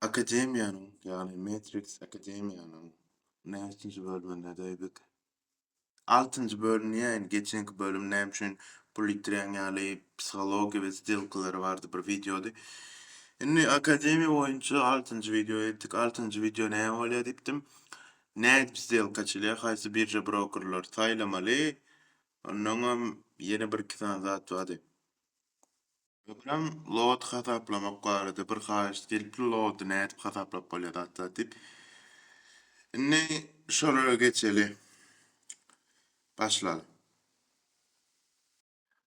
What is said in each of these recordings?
Akademiýanyň, ýagny Matrix Akademiýanyň näçinji bölümindedi eýbik? Altynjy bölüm diýäýin, geçenki bölüm näme üçin pul ýitirýäň ýaly psihologiýa we stilkalary bardy bir wideody. Indi akademiýa boýunça altynjy wideoýa ýetdik. Altynjy wideo näme bolýar diýipdim. Nädip stilka açylýar, haýsy birža brokerleri saýlamaly, onnoňam ýene bir iki sany zat bardy. Öňem load hasaplamak barada bir haýyşt gelipdi, load-y nädip hasaplap bolýar zat zat diýip. Indi şolara geçeli. Başlaly.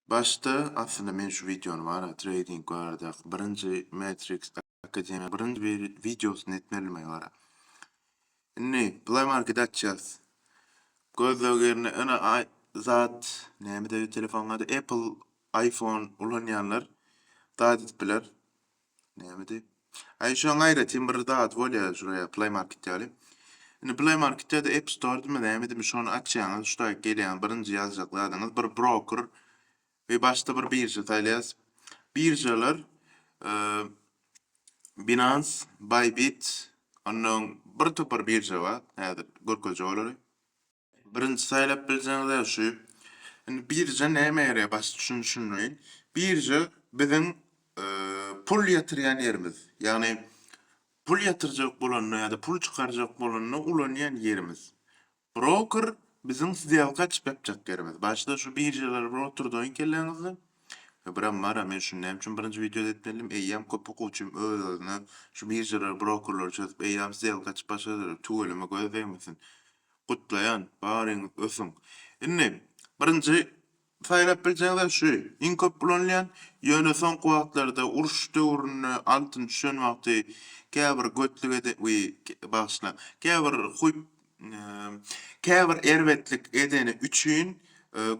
Başda aslynda men şu wideony bar-a trading baradaky birinji metriks Marketing birinji wideosyny etmelimi gara. Indi Play Market açýas. Gözleg ýerine ene zat nämede telefonyň ady Apple iPhone ulanýanlar zat edip biler. Nämede? Aý şoň aýratyn bir zat bolýar şuraya Play Market ýaly. Indi Play Marketde de App Store'dymy nämedimi şony açýaňyz, şu taýyk gelýäňiz birinji ýazjak zadyňyz bir broker We başda bir birža saýlaýas. Biržalar Binance, Bybit, ondan bir topar birža bar. Häzir görkezjek olary. Birinji saýlap biljegiňiz ä şu. Indi birža nämä ýaraýar? Başda şuny düşündireýin. Birža biziň pul ýatyrýan ýerimiz. Ýagny pul ýatyrjak bolanda ýa-da pul çykarjak bolanda ulanýan ýerimiz. Broker biziň sdelka açyp ýapjak ýerimiz. Başda şu biržalar bir oturdaýyň kelläňizde. Biram bara men şuny näme üçin birinji wideoda etmedim. Eýýäm köp okuwçym öz özüne şu biržalar brokerleri çözüp eýýäm sdelka açyp başladylar. Tüweleme göz degmesin. Gutlaýan. Baryňyz ösüň. Indi birinji Saýlap biljegiňiz şu. Iň köp ulanylýan, ýöne soňky wagtlarda uruş döwründe altyn düşen wagty käbir götlük eden we bagyşla käbir huýp käbir erbetlik edeni üçin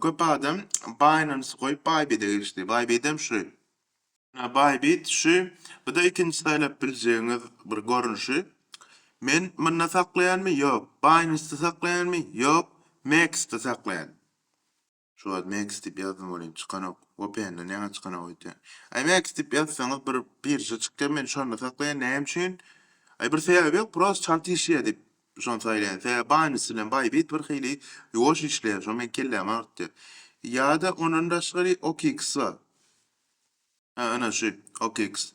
köp adam Binance goýup Bybit-e geçdi. Bybit-em şu. Ynha Bybit şu. Bu-da ikinji saýlap biljegiňiz bir görnüşi. Men munda saklaýanmy? Ýok. Binance-de saklaýanmy? Ýok. Mex-de saklaýan. Şu wagt Max diýip ýazdym welin çykanok. Vpn-den ýaňa çykanok öýtýän. Aý Max diýip ýazsaňyz bir birja çykýar men şonda saklaýan näme üçin? Aý bir sebäbi ýok prost çalt işleýär diýip şony saýlaýan. Sebäbi Binance bilen Bybit bir hili ýuwaş işleýär şo meň kellämi agyrtýar. Ýa-da ondan daşgary OKX bar. Hä ana şu OKX.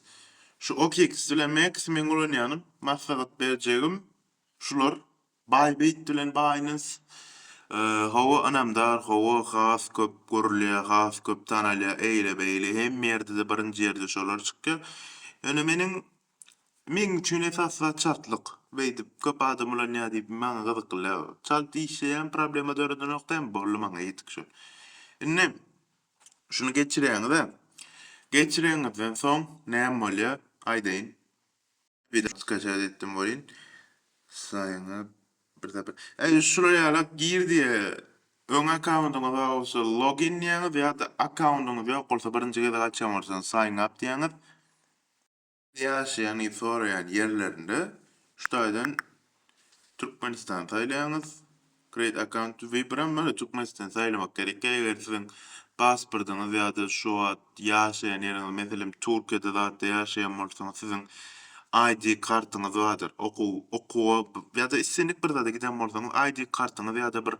Şu OKX bilen Max meň ulanýanym maslahat berjegim şular Baý beýt bilen baýnys. Hawa ynamdar hawa has köp görülýä has köp tanalýa eýle beýle hemme ýerdede birinji ýerde şolar çykýa ýöne meniň meň üçin esas zat çaltlyk beýdip köp adam ulanýa diýip maňa gyzykly däl çalt işleýän problema döredenok dämi boldy maňa ýetik şo indi şuny geçirýäňizä geçireňizden soň näme bolýa aýdaýyn. Wideo skaçat etdim bolin. Saýyňa bir zepir. Eý şular ýala gir diýe öň akkauntyňyz bar bolsa login diýäňiz ýa-da akkauntyňyz ýok bolsa birinji gezek açýan bolsaňyz sign up diýäňiz. Ýaşaýan ýa soraýan ýerlerinde şu taýdan Türkmenistan saýlaýaňyz. Create account we biram bar Türkmenistan saýlamak gerek. Eger siziň pasportyňyz ýa-da şu wagt ýaşaýan ýeriňiz meselem Türkiýede zatda ýaşaýan bolsaňyz siziň ID kartyňyz bardyr. Okuw okuwa ýa-da islendik bir zada giden bolsaňyz ID kartyňyz ýa-da bir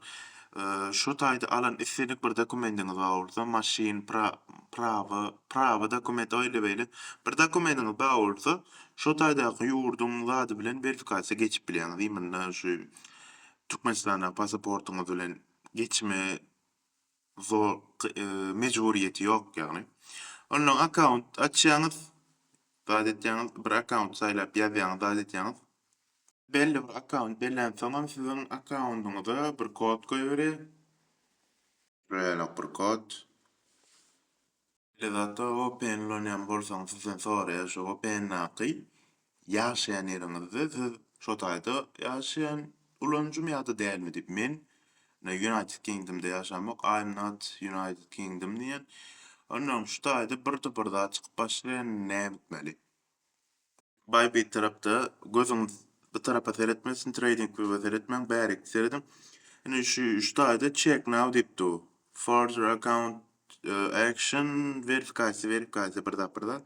şu taýda alan islendik bir dokumendiňiz bar bolsa maşyn pra prawa prawa dokument oýle beýle bir dokumendiňiz bar bolsa Şo taýdaky ýurduň zady bilen werfikasiýa geçip bilýäňiz. Imynda şu Türkmenistandaky pasaportyňyz bilen geçme zor mejburyýeti ýok ýagny. Ondan akkaunt açýaňyz, zat etýäňiz, bir akkaunt saýlap ýazýaňyz, zat etýäňiz. Belli bir akkaunt bellensoňam siziň akkaundyňyza bir kod goýberýär. Şeýleräk bir kod. Beýle zatda vpn ulanýan bolsaňyz sizden soraýar şu vpndaky ýaşaýan ýeriňizde siz şo taýda ýaşaýan ulanyjymy ýa-da dälmi diýip. Men United Kingdom-da ýaşamok I'm not United Kingdom diýýän. Onnoň şu taýda birde bir zat çykyp başlaýar näme etmeli. Baý bitarapda gözüňiz bu tarapa seretmesin trading view-a seretmäň bärikde serediň. Indi şu üstde aýda check now diýip dur. Further account action verifikasiýa verifikasiýa bir zat bir zat.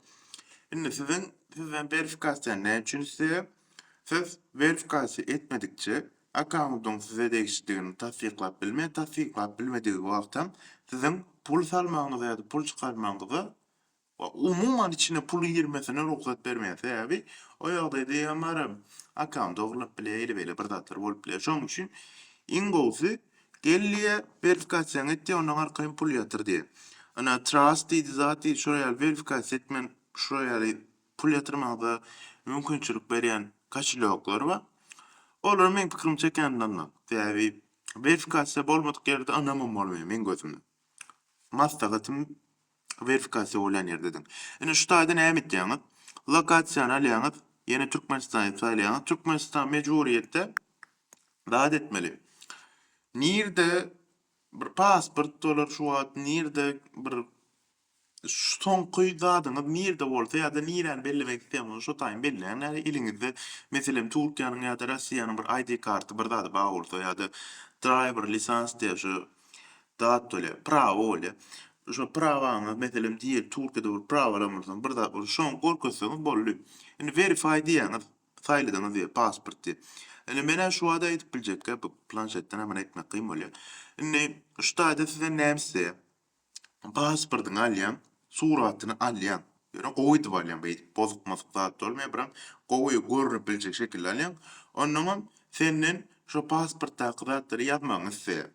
Indi siziň sizden verifikasiýa näme üçin isleýär? Siz verifikasiýa etmedikçe akkauntyň size degişlidigini tassyklap bilmeýär. Tassyklap bilmedigi wagtam siziň pul salmagyňyza ýa-da pul çykarmagyňyza we umuman içine puluň girmesine rugsat bermeýär. Sebäbi o ýagdaýda eýýäm barybir akkaunty dogrulap bilýär, eýle-beýle bir zatlar bolup bilýär. Şonuň üçin iň gowusy gel diýýär, werfikasiýaňy et diýýär, ondan arkaýyn pul ýatyr diýýär. Ynha, Trust diýdi, zat diýdi, şular ýaly werifikasiýa etmän şular ýaly pul ýatyrmaga mümkinçilik berýän kaşelýoklar bar. Olara meň pikirim çekýän ynanma. Sebäbi werifikasiýa bolmadyk ýerde ynamam bolmaýar meň gözümde. Maslahatym Werifikasiýa bolýan ýerde ediň. Indi şu taýda näme etýäňiz? Lokasiýany alýaňyz, ýene Türkmenistany saýlaýaňyz. Türkmenistan mejburyýetde zat etmeli. Nirde bir pasport bolar şu wagt, nirde bir soňky zadyňyz nirde bolsa ýa-da niräni bellemek isleýän bolsa şo taýyny belläň. Nädip eliňizde, meselem, Türkiýäniň ýa-da Russiýanyň bir ID karty, bir zady bar bolsa ýa-da driver lisans diýýär şu Dat bolýar. Prawa bolýar. Şo prawaňyz, meselem, diýeli Türkiýede bolup prawa alan bolsaňyz, bir zat bolsa, şoňy görkezseňiz boldy. Indi verify diýýäňiz, saýladyňyz diýeli, pasport diýip. Indi men-ä şu wagt aýdyp biljekkä, bu planşetden-ä muny etmek kyn bolýar. Indi şu taýda sizden näme isleýär? Pasportyňy alýaň, suratyny alýaň, ýöne gowy edip alýaň, beýdip bozuk-mozuk zat bolmaýar, biraň gowy görnüp biljek şekilde alýaň, onnoňam senden şo pasportdaky zatlary ýazmagyňy isleýär.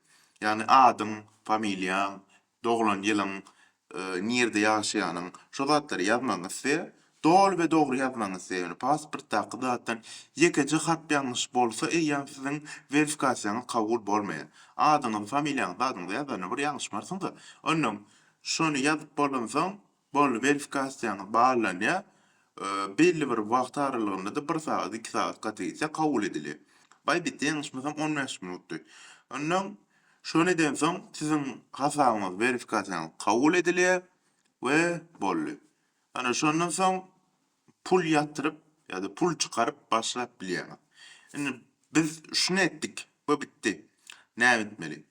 Ýagny adyň, familiýaň, doglan ýylyň, nirde ýaşaýanyň, şo zatlary ýazmagyňy isleýär, doly we dogry ýazmagyňy isleýär, ýöne pasportdaky zatdan ýekeje harp ýalňyş bolsa eýýäm siziň werfikasiýaňyz kabul bolmaýar. Adyňyzy, familiýaňyzy, zadyňyzy ýazanda bir ýalňyşmarsyňyz-a, onnoň Şony ýazyp bolansoň, boldy, werifkasiýaňyz barlanýar. Belli bir wagt aralygynda-da, bir sagat, iki sagat gaty gitse, kabul edilýär. Baý bitdi, ýalňyşmasam, on bäş minutdy. Onnoň, şony edensoň, siziň hasabyňyz, werifkasiýaňyz kabul edilýär we boldy. Ana, şondan soň pul ýatyryp ýa-da pul çykaryp başlap bilýäňiz. Indi biz şuny etdik we bitdi. Näme etmeli?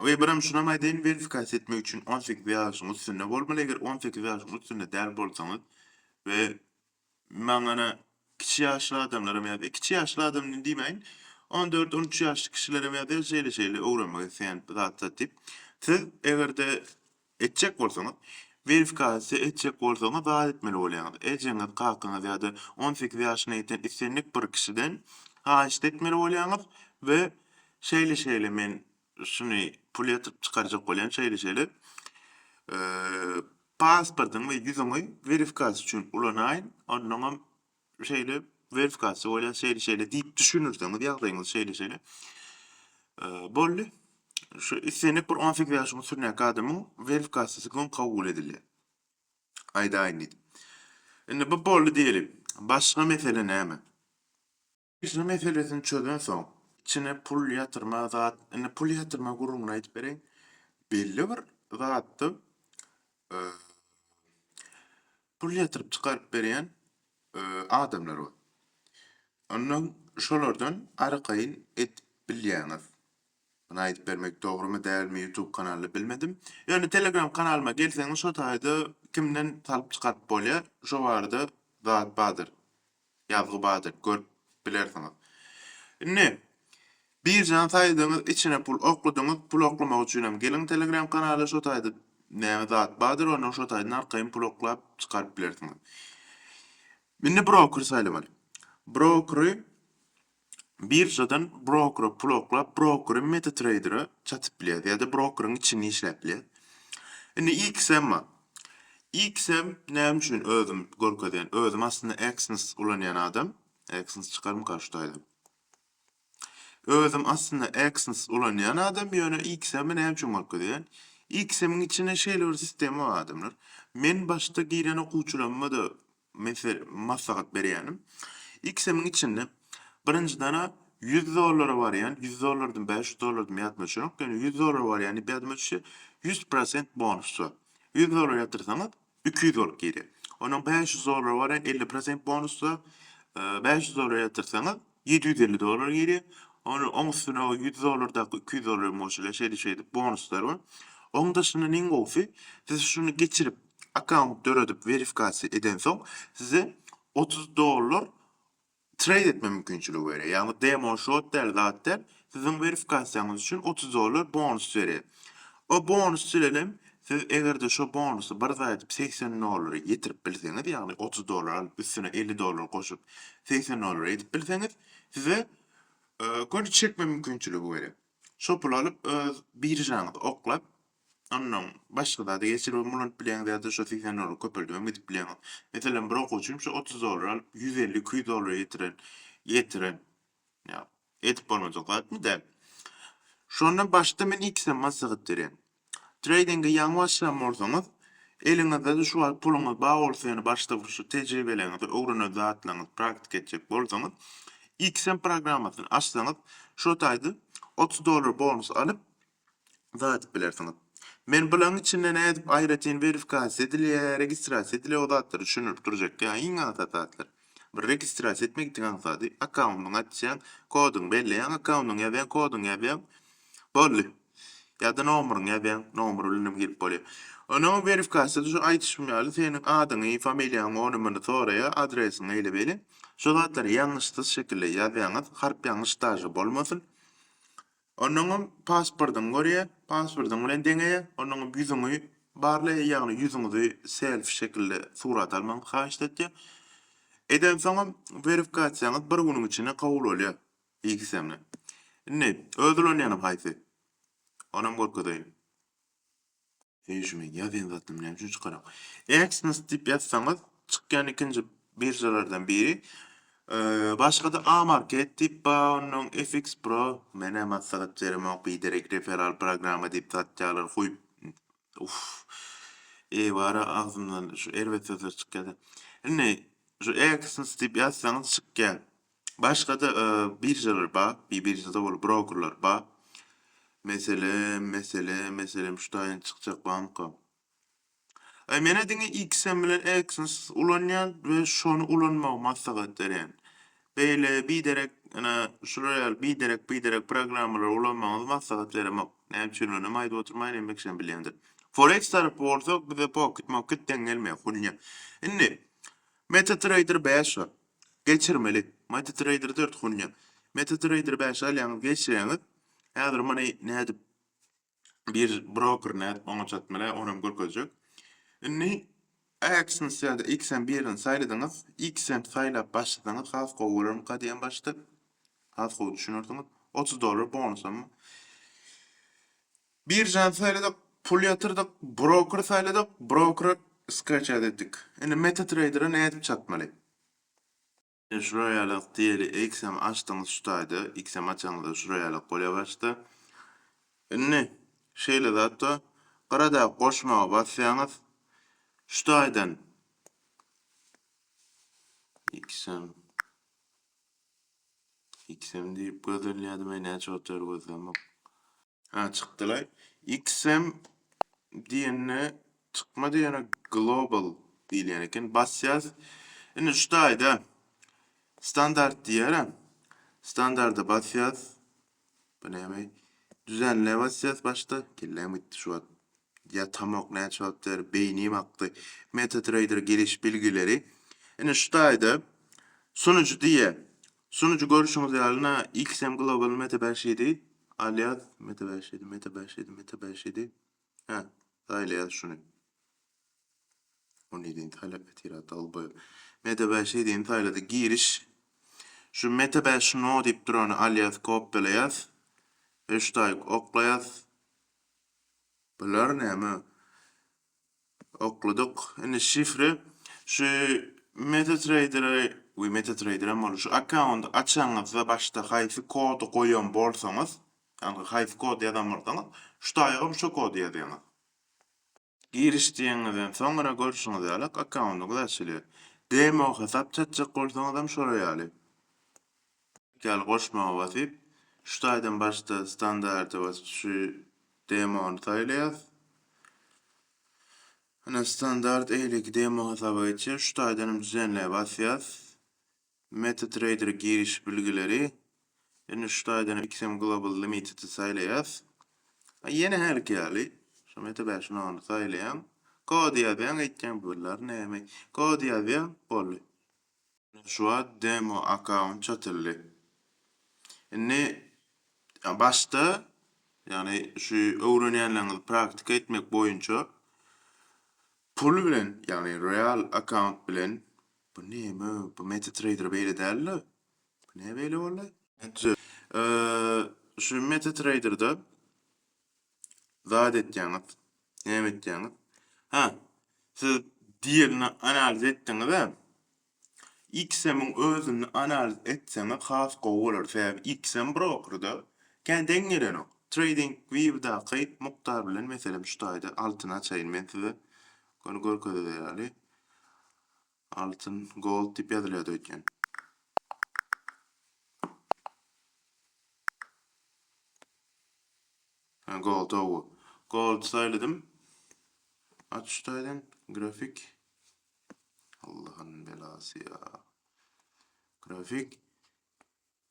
We birem şunam aýdaýyn, werifkasiýa etmek üçin on sekiz ýaşyň üstünde bolmaly, eger on sekiz ýaşyň üstünde däl bolsaňyz we maňana kiçi ýaşly adamlaram ýazýar, kiçi ýaşly adam diýmäýin, on dört, on üç ýaşly kişilerem ýazýar, şeýle-şeýle öwrenmek isleýän zatlar diýip. Siz eger-de Etjek bolsaňyz, Werifikasiýa etjek bolsaňyz zat etmeli bolýaňyz. Ejeňiz, kakaňyz ýa-da on sekiz ýaşyna ýeten islendik bir kişiden haýyşt etmeli bolýaňyz we şeýle-şeýle men şuny pul ýatyryp çykarjak bolýan şeýle-şeýle pasportyňy we ýüzüňi werifikasiýa üçin ulanaýyn, onnoňam şeýle werifikasiýa bolýar, şeýle-şeýle diýip düşünirseňiz, ýagdaýyňyz şeýle-şeýle boldy. Şu islendik bir on sekiz ýaşyň üstündäki adamyň werifikasiýasy soň kabul edilýär. Aýdaýyn diýdim. Indi bu boldy diýeli. Başga mesele näme? Pişigi meselesini çözen soň içine pul ýatyrma zat indi pul ýatyrma gürrüňini aýdyp bereýin. Belli bir zatda pul ýatyryp çykaryp berýän adamlar bar. Ondan şolardan arkaýyn edip bilýäňiz. Muny aýdyp bermek dogrymy dälmi ýutub kanalda bilmedim. Ýöne telegram kanalyma gelseňiz şo taýda kimden salyp çykaryp bolýar şo barada zat bardyr. Ýazgy bady görüp bilersiňiz. Indi Birjany saýdyňyz içine pul okladyňyz pul oklamak üçinem geliň telegram kanala şo taýda näme zat bardyr ondan şo taýdan arkaýyn pul oklap çykaryp bilersiňiz. Indi broker saýlamaly. Brokeri biržadan brokera pul oklap, brokeri MetaTrader-a çatyp bilýäs ýa-da brokeriň içinde işläp bilýäs. Indi XM bar. XM näme üçin özüm görkezýän? Özüm aslynda Exness ulanýan adam. Exness çykarmyka şu taýdan? Özüm aslynda Exness ulanýan adam, ýöne XM-i näme üçin görkezýän? XM-iň içinde şeýle bir sistema bar adamlar. Men başda giren okuwçylarymda-da Men size maslahat berýänim. XM-iň içinde birinjidana ýüz dollara barýan, ýüz dollardan bäş ýüz dollar diýmä ýadyma düşenok, ýöne ýüz dollara barýan diýip ýadyma düşýär, ýüz prosent bonus bar. Ýüz dollar ýatyrsaňyz, iki ýüz bolup girýär. Onuň bäş ýüz dollara barýan elli prosent bonus bar. Bäş ýüz dollar ýatyrsaňyz, Ýedi ýüz elli dollar girýär. Ony oň üstüne o ýüz dollardaky iki ýüz dollar hem goşulýar. Şeýdip şeýdip bonuslar bar. Oň daşyndan iň gowusy siz şuny geçirip akkaunt döredip werifikasiýa edensoň size otuz dollar treýd etme mümkinçiligi berýär. Ýagny demo shot däl zat däl Siziň werifkasiýaňyz üçin otuz dollar bonus berýär. O bonus bilen hem siz eger-de şo bonusy bir zat edip segsen dollary ýetirip bilseňiz, ýagny otuz dollar alyp üstüne elli dollar goşup segsen dollar edip bilseňiz, size göni çekme mümkinçiligi berýär. Şo puly alyp öz biržaňyzy oklap, ondan başga zada geçirip hem ulanyp bilýäňiz ýa-da şo segsen dollary köpeldip hem gidip bilýäňiz. Meselem, bir okuwçym şo otuz dollar alyp ýüz elli, iki ýüz dollar ýetiren ýetiren Ýa, edip bolmajak zatmy? Däl. Şonda başda men ikisem maslahat berýän. Treýdinge ýaňy başlan bolsaňyz, eliňizde-de şu wagt puluňyz bar bolsa ýöne başda bir şu tejribeleriňizi, öwrenen zatlaryňyzy praktika etjek bolsaňyz, ikisem programmasyny açsaňyz, şo taýda otuz dollar bonus alyp, uzadyp bilersiňiz. Men bulaň içinde nädip aýratyn werifikasiýa edilýä, registrasiýa edilýä o zatlary düşündirip durjak ýa iň aňsat zatlar. Bir registrasiýa etmek itiň aňsady, akkaundyňy açýaň, koduňy belleýäň, akkaundyňy ýazýaň, koduňy ýazýaň, boldy. Ýa-da nomuryňy ýazýaň, nomer bilen hem girip bolýa. Onuň werifikasiýasy şu aýdyşym ýaly seniň adyňy, familiýaňy, ony muny soraýa, adresiňi eýle beýle. Şu zatlary ýalňyşsyz şekilde ýazýaňyz, harp ýalňyş daže bolmasyn. Onnoňam pasportyňy görýär, pasportyň bilen deňeýär, onnoňam ýüzüňi barlaýar, ýagny ýüzüňizi selfi şekilde surat almagyňy haýyşt etýär. Edensoňam werifikasiýaňyz bir günüň içinde kabul bolýar ikisem-de. Indi öz ulanýanyň haýsy? Onam görkezeýin. Heý şu men ýazýan zatym näme üçin çykarak. Exness diýip ýazsaňyz çykýan ikinji biržalardan biri. Başgada Amarket diýip bar onnoň FX Pro menä maslahat beremok biderek referal programma diýip satýalar huýp uff ebara agzymdan şu erbet sözler çykýada. Indi şu Exness diýip ýazsaňyz çykýar. Başga-da biržalar bar, bi biržada ol brokerlar bar. Meselem, meselem, meselem şu taýyn çykjak barmyka? Aý menä diňe XM bilen Exness ulanýan we şony ulanmagy maslahat berýän. Beýle biderek ene şular ýaly biderek biderek programmalary ulanmagyňyzy maslahat beremok. Näme üçin ulanýan aýdyp oturmaýyn enbek şem bilýändir. Forex tarapy bolsa bize pokit mokit deň gelmeýär hunýa. Indi Meta Trader 5 bar. Geçirmeli. MetaTrader dört gonýa. MetaTrader bäşe alýaňyz geçirýäňiz. Häzir muny nädip bir broker nädip oňa çatmaly onam görkezjek. Indi AXNS ýa-da XM birini saýladyňyz. XM saýlap başlasaňyz has gowy bolarmyka diýen başda. Has gowy düşünersiňiz. Otuz dollar bonusam. Biržany saýladyk, pul ýatyrdyk, broker saýladyk, brokera skreçat etdik. Indi MetaTrader-a nädip çatmaly? Şular ýalak diýeli XM açdyňyz şu taýda, XM açaňyzda şular ýalak bolýar başda. Indi şeýle zatda gyradaky goşmaga basýaňyz, şu taýdan XM XM diýip gözlenýär, diýmeli näçe wagt bäri gözlemok. Ha çykdylaý. XM diýende çykmady ýöne global diýilýän eken. Basýas. Indi şu taýda standart diýýärä. Standarda basýas. Bu näme? Düzenle basýas başda. Kelläm gitdi şu wagt. Ýatamok näçe wagt bäri beýnim akdy. MetaTrader giriş bilgileri Ine şu taýda Sunyjy diýýä. Sunyjy görüşiňiz ýaly na XM Global Meta bäş ýedi alýas Meta bäş ýedi Meta bäş ýedi Meta bäş ýedi Hä saýlaýas şuny. On ýedini saýlap ýatyra dolboý. Meta bäş ýedini saýladyk giriş. Şu Meta bäş no diýip durany alýas kopýalaýas. Öştaýyk oklaýas. Bular näme? Okladyk. Indi şifre şu MetaTrader we MetaTrader hem bolup şu akkaunt açanyňyzda başda haýsy kody goýan bolsaňyz, ýagny haýsy kod ýazan bolsaňyz, şu taýagam şo kody ýazýaňyz. Giriş diýeniňizden soňra görşüňiz ýaly akkauntyňyz açylýar. Demo hasap çatjak bolsaňyzam şolar ýaly. Gel goşmaga basyp, şu taýdan başda standarta basyp şu demony saýlaýas. Ine standart eýleki demo hasaba geçýär. Şu taýdan hem düzenleýe basýas. MetaTrader giriş bilgileri. Ine şu taýdan hem XM Global Limitedi saýlaýas. Ýene hälki ýaly şu Meta bäş nolu saýlaýaň. Kod ýazýaň, aýtýaň bu lary näme. Kod ýazýaň, boldy. Ine şu wagt demo akaunt açyldy. Indi başda ýagny şu öwrenýänleriňizi praktika etmek boýunça pul bilen ýagny real akaunt bilen bu neme bu meta trader beýle dälda bu näme beýle boldy? Şu meta traderda zat etýäňiz, näme etýäňiz? Ha, siz diýerini analiz etdiňiz-ä. XM-iň özüni analiz etseňiz has gowy bolar. Sebäbi XM broker-da kän deň gelenok. Trading View-daky Muktar bilen meselem şu taýda altyny açaýyn men size. Göni görkezilýär ýaly. Altyn, Gold diýip ýazylýardy öýtýän. Hä, Gold, hawa. Gold saýladym. Aç şu taýdan, grafik. Allahyň belasy ýa. Grafik.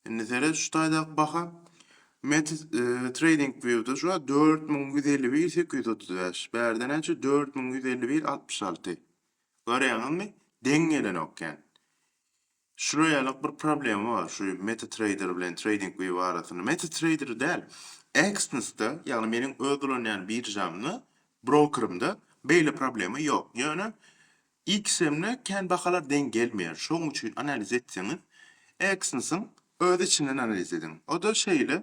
Indi seret şu taýdaky baha. Met Trading View-da şu wagt 4151 835. Bärde näçe? 4151 66. Görýäňizmi? Deň gelenok kän. Şular ýalyk bir problema bar şu MetaTrader bilen Trading View arasynda. MetaTrader däl, Exness-da, ýagny meniň öz ulanýan biržamda, brokerymda beýle problema ýok. Ýöne XM-le kän bahalar deň gelmeýär. Şoň üçin analiz etseňiz, Exyns-yň öz içinden analiz ediň. O-da şeýle.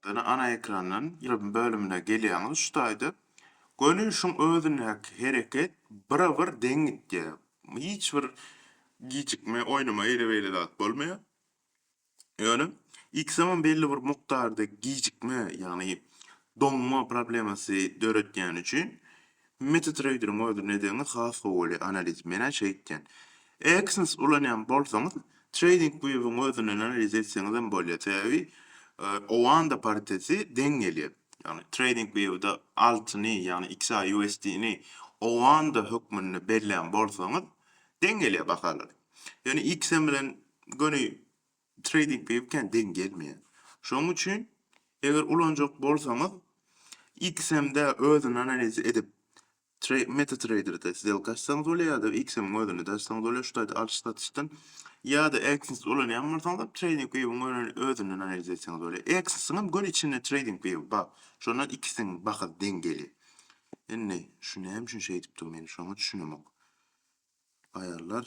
Ýöne ana ekrandan ýyldym bölümine gelýäňiz şu taýda. Görnüşiň özündäki hereket bire-bir deň gidýär. Hiç bir gijikme, oýnama, eýle-beýle zat bolmaýar. Ýöne ilkisoňam belli bir mukdarda gijikme, ýagny doňma problemasy döretýäni üçin MetaTrader-iň özi ne deňiz has gowy analiz. Men-ä şeýt diýen. Exness ulanýan bolsaňyz, TradingView-iň özünden analiz etseňizem bolýar. Sebäbi Oanda pariteti deň gelýär. Ýagny TradingView-de altyny, ýagny XAUSD-ni Oanda hökmünde bellän bolsaňyz, deň gelýär bahalar. Ýöne XM bilen göni trading peýi biken deň gelmeýär. Şonuň üçin eger ulanjak bolsaňyz XM-de özüni analiz edip MetaTrader-de sdelka açsaňyz bolýar ýa-da XM-iň özünde açsaňyz bolýar şu taýda alyş satyşdan ýa-da Exness ulanýan bolsaňyzam trading peýiň özünden analiz etseňiz bolýar. Exness-iň hem göni içinde trading peýi bar. Şondan ikisiniň bahasy deň gelýär. Indi şu näme üçin şeýdipdir men şoňa düşünemok. Aýallar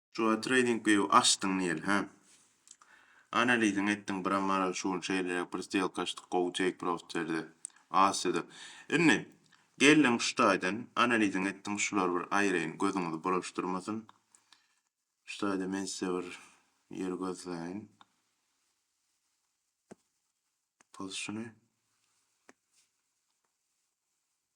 Joe trading view açdyň diýeli hä. Analiziňi etdiň biram maral şu gün şeýleräk bir stelka açdyk gowy take profit berdi. Asyýada. Indi geldiň şu taýdan analiziňi etdiň şular bir aýyraýyn gözüňizi bulaşdyrmasyn. Şu taýda men size bir ýer gözleýin. Pozisiony.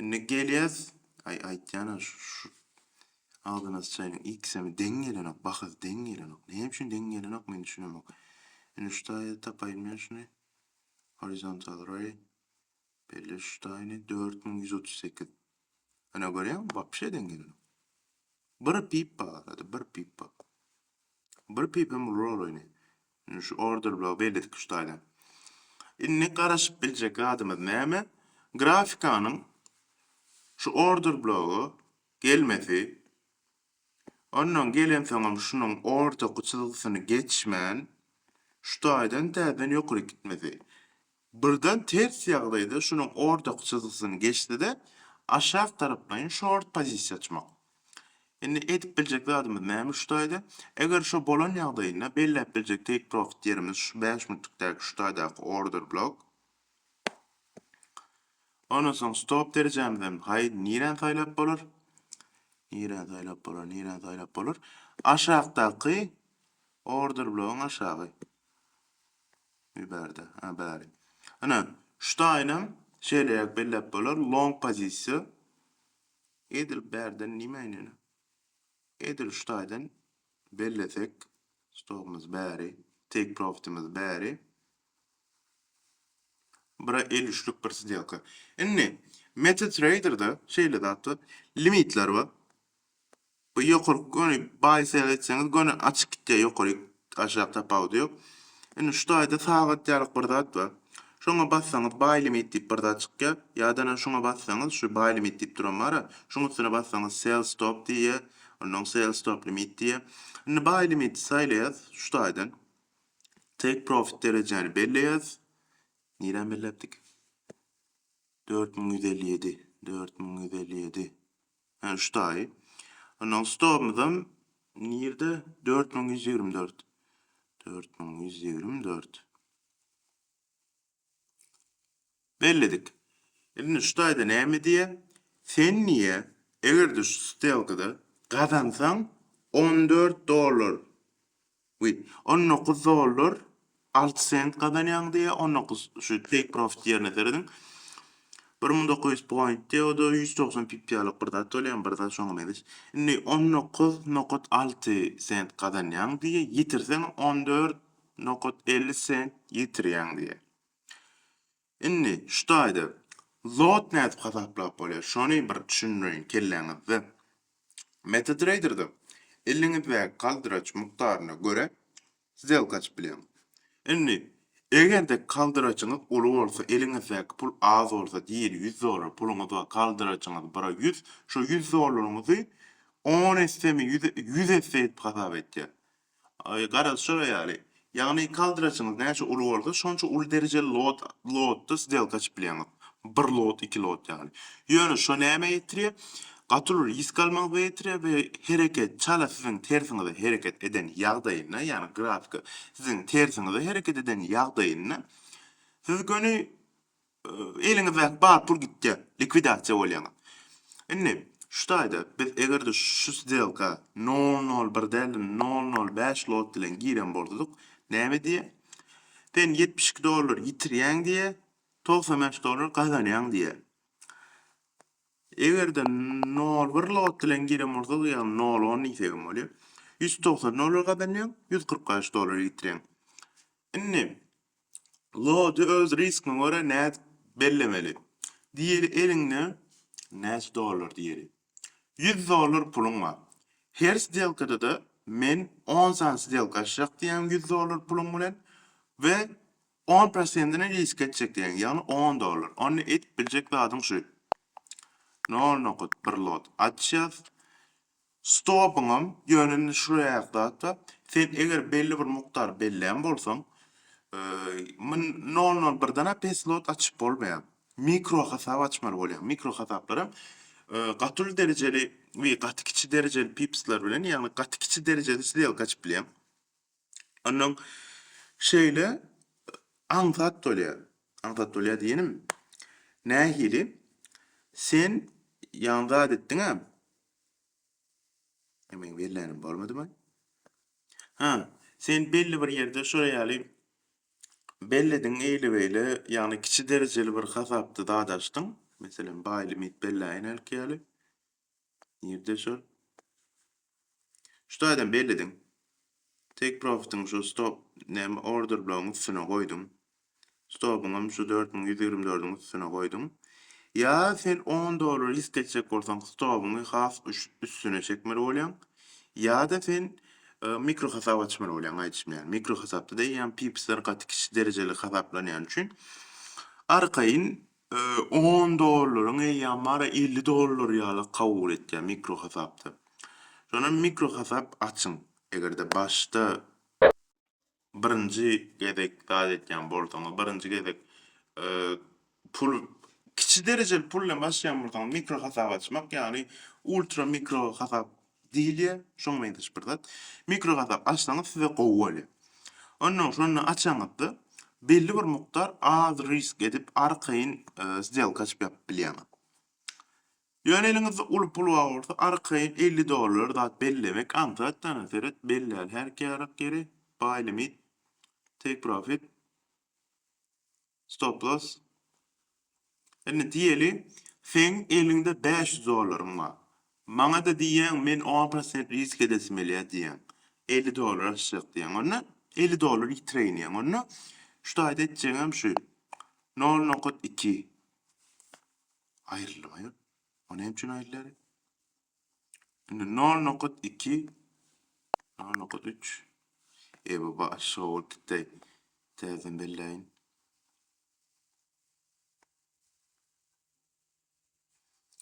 Indi gelýäs. Aý aýtýana şu agzyna syçaýynyň ikisem deň gelenok bahasy deň gelenok. Näme üçin deň gelenok men düşünemok. Indi şu taýda tapaýyn men şuny. Horizontal ray. Belli şu taýyny 4138. Ana görýäňmi wapşe deň gelenok. Bir pip barada bir pip bar. Bir pipem uly rol oýny. Indi şu order blogy belledik şu taýdan. Indi garaşyp biljek zadymyz näme? Grafikanyň şu order blogy gelmesi, ondan gelensoňam şunuň ortaky çyzgysyny geçmän şu taýdan täzeden ýokaryk gitmesi. Birden ters ýagdaýda şunuň ortak çyzgysyny geçdi-de, aşak taraplaýyn şort pozisiýa açmak. Indi edip biljek zadymyz näme şu taýda? Eger şo bolan ýagdaýynda belläp biljek take profit ýerimiz şu bäş minutlikdäki şu taýdaky order blok. Ondan soň stop derejämizem haý niräni saýlap bolar? Niräni saýlap bolar? Niräni saýlap bolar? Aşakdaky order blogyň aşagy. Bir bärde. Hä, bäri. Ine, şu taýynam şeýleräk belläp bolar, long pozisiýa. Edil bärden nime ine ine? Edil şu taýdan bellesek, stopumyz bäri, take profitimiz bäri. Bura el üçlük bir sdelka. Indi, MetaTrader-da şeýle zat bar, limitler bar. Bu ýokarky göni baý seretseňiz göni açyk gitýär ýokaryk aşak tapawudy ýok. Indi şu taýda sagat ýalyk bir zat bar. Şoňa bassaňyz baý limit diýip bir zat çykýar. Ýadana şuňa bassaňyz şu baý limit diýip duran bara. Şuň üstüne bassaňyz sell stop diýýär. Ondan sell stop limit diýýär. Indi baý limiti saýlaýas şu taýdan. Take profit derejäni belleýäs. Nirä belläpdik? 4157, 4157. Hä, şu daýy. Onnoň stobymyzam nirde? Dört müň ýüz ýigrimi dört. Dört müň ýüz ýigrimi dört. Belledik. Indi şu daýda näme diýýär? Sen diýýär, eger-de şu stelkada gazansaň, on dört dollar We on dokuz dollar alty sent gazanýaň diýýär, on dokuz şu take profit ýerine serediň, bir müň dokuz ýüz point diýýär, o-da ýüz togsan pip ýalyk bir zat bolýar, bir zat şoňa meňzeş. Indi on dokuz nokat alty sent gazanýaň diýýär, ýitirseň on dört nokat elli sent ýitirýäň diýýär. Indi şu taýda lot nädip hasaplap bolýar şony bir düşündireýin kelläňizde. MetaTrader-da eliniňizdäki galdyraç mukdaryna görä sdelka açyp bileňiz. Indi eger-de kaldyraçyňyz uly bolsa eliňizdäki pul az bolsa diýeli ýüz dollar puluňyz bar kaldyraçyňyz bira ýüz şo ýüz dollaryňyzy on essemi ýüz esse edip hasap etýär. Aý, garazşyr aýaly, ýagny kaldraçyňyz näçe uly bolsa, şonça uly derejeli lot, lotda sdelka açyp bilýäňiz. Bir lot, iki lot ýaly. Ýöne şo nämä ýetirýär? Gaty uly risk almaňyza ýetirýär we hereket çala siziň tersiňize hereket eden ýagdaýynda, ýagny grafika siziň tersiňize hereket eden ýagdaýynda siz göni eliňizdäki bar pul gitýär, likwidasiýa bolýaňyz. Indi şu taýda biz eger-de şu sdelka nol nol bir däl-de nol nol bäş lot bilen giren bolsadyk, näme diýýär? Sen ýetmiş iki dollar ýitirýäň diýýär, togsan bäş dollar gazanýaň diýýär. Eger-de nol bir lot bilen giren bolsadyk, ýagny nol on diýsek hem bolýar, ýüz togsan dollar gazanýaň, ýüz kyrk bäş dollar ýitirýäň. Indi Lody öz riskyňa görä nädip bellemeli? Diýeli eliňde näçe dollar diýeli. Ýüz dollar puluň bar. Her sdelkada-da men on sany sdelka açjak diýýäň ýüz dollar puluň bilen we on prosentini risk etjek diýýäň, ýagny on dollar. Onda edip biljek zadyň şu. Nol nokat bir lot açýas. Stopuňam ýöneline şuraýak zatda sen eger belli bir mukdar bellän bolsaň myn nol nol birdenä pes lot açyp bolmaýar mikro hasap açmaly bolýar mikro hasaplarem gaty uly derejeli we gaty kiçi derejeli pipsler bilen ýagny gaty kiçi derejeli sdelka açyp bilýäň onnoň şeýle aňsat bolýar aňsat bolýar diýenim nähili sen ýagny zat etdiňä E men bellänim bolmadymy? Ha, sen belli bir ýerde şo ýaly bellediň eýle-beýle, ýagny kiçi derejeli bir hasapda zat açdyň, meselem, baý limit belläýen hälki ýaly. Nirde şol? Şu taýdan bellediň. Take profitiň şu stop näme order blogyň üstüne goýduň. Stobyňam şu dört müň ýüz ýigrimi dördüň üstüne goýduň. Ýa sen on dollar risk etjek bolsaň stobyňy has üstüne çekmeli bolýaň, ýa-da sen mikro hasap açmaly bolýaň aýdyşym ýaly. Mikro hasapda da eýýäm pipsler gaty kiçi derejeli hasaplanýany üçin arkaýyn on dollaryň eýýäm bary elli dollar ýaly kabul etýär mikro hasapda. Şonda mikro hasap açyň. Eger-de başda birinji gezek zat etýän bolsaňyz, birinji gezek pul, kiçi derejeli pul bilen başlaýan bolsaňyz, mikro hasap açmak, ýagny ultra mikro hasap diýilýär, şoňa meňzeş bir zat. Mikro hasap açsaňyz size gowy bolýar. Ondan şony açaňyzda belli bir mukdar az risk edip arkaýyn sdelka açyp ýapyp bilýäňiz. Ýöne eliňizde uly pul bar bolsa arkaýyn elli dollar zat bellemek aňsat jana seret bellär her kärek ýeri buy limit take profit stop loss indi diýeli seň eliňde bäş ýüz dollaryň bar maňada diýýäň men on prosent risk edesim gelýär diýýäň elli dollar aşjak diýýäň onda elli dollar ýitireýin diýýäň onda şu taýda etjegiňem şu nol nokat iki Aýrylmaýar. O näme üçin aýrylar? Indi nol nokat iki, nol nokat üç. E bu başga bolup gitdi. Täzeden belläýin.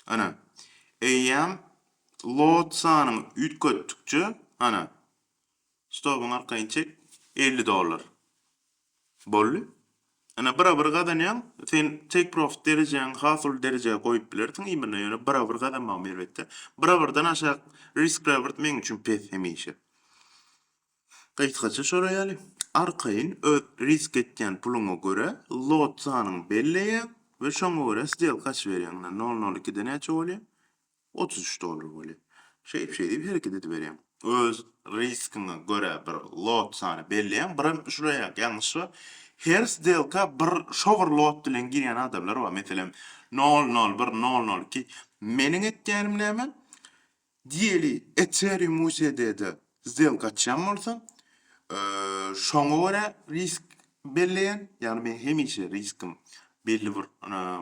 Ana. Eýýäm load sanyny üýtgetdikçe, ana, Stobyň arkaýyn çek, elli dollar. Boldy. Ine, bira-bir gazanýaň. Sen take profit derejäňi has uly derejä goýup bilersiň imine, ýöne bira-bir gazanmagym erbetde. Bira-birden aşak risk reward meň üçin pes hemişe. Gysgaça şolar ýaly. Arkaýyn öz risk etýän puluňa görä lot sanyňy belleýäň we şoňa görä sdelka açyberýäň. Ine, nol nol ikide näçe bolýar? Otuz üç dollar weli, şeýp-şeýdip hereket ediberýäň. Öz riskiňe görä bir lot sany belleýäň, birem şulaýak ýalňyş bar, her sdelka bir şo bir lot bilen girýän adamlar bar, meselem, nol nol bir, nol nol iki. Meniň etýänim näme, diýeli Ethereum USD-de sdelka açýan bolsam, şoňa görä risk belleýän, ýagny men hemişe riskim belli bir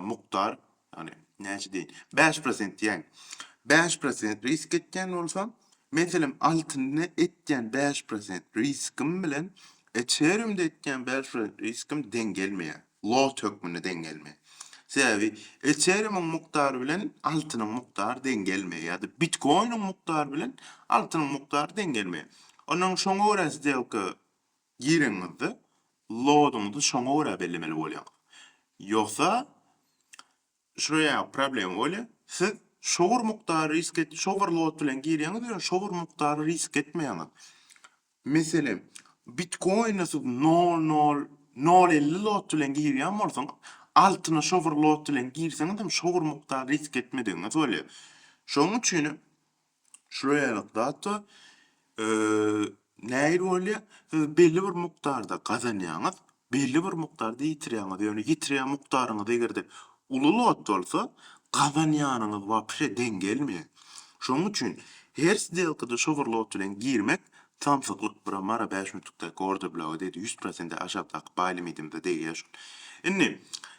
mukdar Ýagny, näçe diýen? Bäş prosent diýäýiň. Bäş prosent risk etýän bolsam, men senem altynda etýän bäş prosent riskim bilen Ethereumda etýän bäş prosent riskim deň gelmeýär. Lot hökmünde deň gelmeýär. Sebäbi Ethereumyň mukdary bilen altynyň mukdary deň gelmeýär ýa-da Bitcoinyň mukdary bilen altynyň mukdary deň gelmeýär. Onnoň şoňa görä sdelka Gireňizde loadyňyzy şoňa görä bellemeli bolýaňyz. Ýogsa şular ýaly problema bolýar. Siz şo bir mukdary risk et, şo bir load bilen girýäňiz we şo bir mukdary risk etmeýäňiz. Meselem, bitkoine siz nol nol nol elli load bilen girýän bolsaňyz, altyna şo bir load bilen girseňiz hem şo bir mukdary risk etmedigiňiz bolýar. Şonuň üçin hem Şular ýaly zatda nähili bolýar? Siz belli bir mukdarda gazanýaňyz, belli bir mukdarda ýitirýäňiz. Ýöne ýitirýän mukdaryňyz eger-de uly lot bolsa, gazanýanyňyz wapşe deň gelmeýär. Şonuň üçin her sdelkada şo bir lot bilen girmek samsyklyk, bura mara bäş müňlükdäki orderbloga degdi, ýüz prosentden aşakdaky baý limitimize degýär şol. Indi,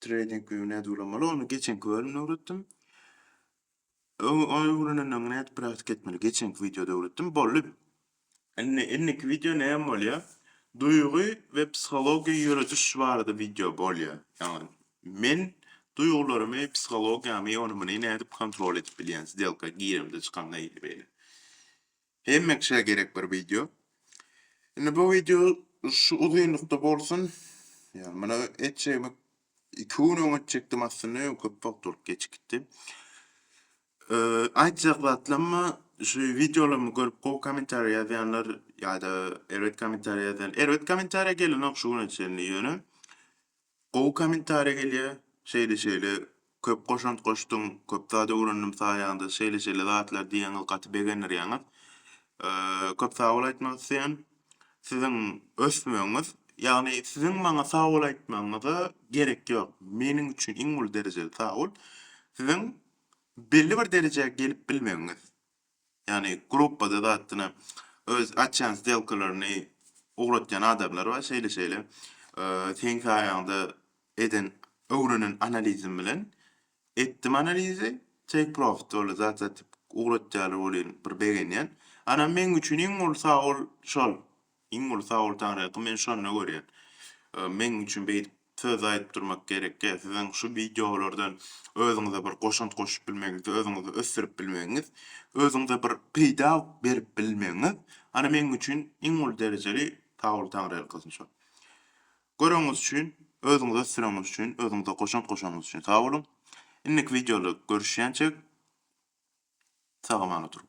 Trading view nädip ulanmaly? Ony geçenki bölümde öwretdim. Ony öwrenenden öň nädip praktika etmeli? Geçenki wideoda öwretdim. Boldy. Indi indiki wideo näme bolýar? Duýgy we psihologiýa ýörediş barada wideo bolýar. Ýagny men duýgularymy, psihologiýamy, ony muny nädip kontrol edip bilýän, sdelka giremde, çykamda ýaly beýle. Hemme kişä gerek bir wideo. Indi bu wideo şu uzynlykda bolsun. Ýa muny etjegimi 2 gün öň etjekdim aslynda, ýöne köp wagt bolup geç gitdi. Aýtjak zatlarymmy, şu wideolarymy görüp gowy kommentariýa ýazýanlar ýa-da erbet kommentariýa ýazýan, erbet kommentariýa gelenok şu güne çenli ýöne Gowy komentariýa gelýä şeýle şeýle köp goşant goşduň köp zat öwrendim saýaňda şeýle şeýle zatlar diýýäňiz gaty begendirýäňiz köp sag bol aýtmak isleýän siziň ösmegiňiz ýagny siziň maňa sag bol aýtmagyňyza gerek ýok meniň üçin iň uly derejeli sag bol siziň belli bir derejä gelip bilmegiňiz Ýagny gruppada zatdyna öz açýan sdelkalaryny ugratýan adamlar bar, şeýle-şeýle seň saýaňda eden öwrenen analizim bilen etdim analizi take profit boldy zat satyp ugratýarlar welin bir begenýän. Anam meň üçin iň bolsa ol şol Iň uly sag bol Taňryýaka men şonda görýän. Meň üçin beýdip söz aýdyp durmak gerekkä siziň şu wideolardan özüňize bir goşant goşup bilmegiňiz özüňizi ösdürip bilmegiňiz özüňize bir peýda berip bilmegiňiz ana meň üçin iň uly derejeli sag bol Taňryýalkasyn şo göreňiz üçin özüňizi ösdüreňiz üçin özüňize goşant goşanyňyz üçin sag boluň indiki wideoda görüşýänçek sag amana turuň.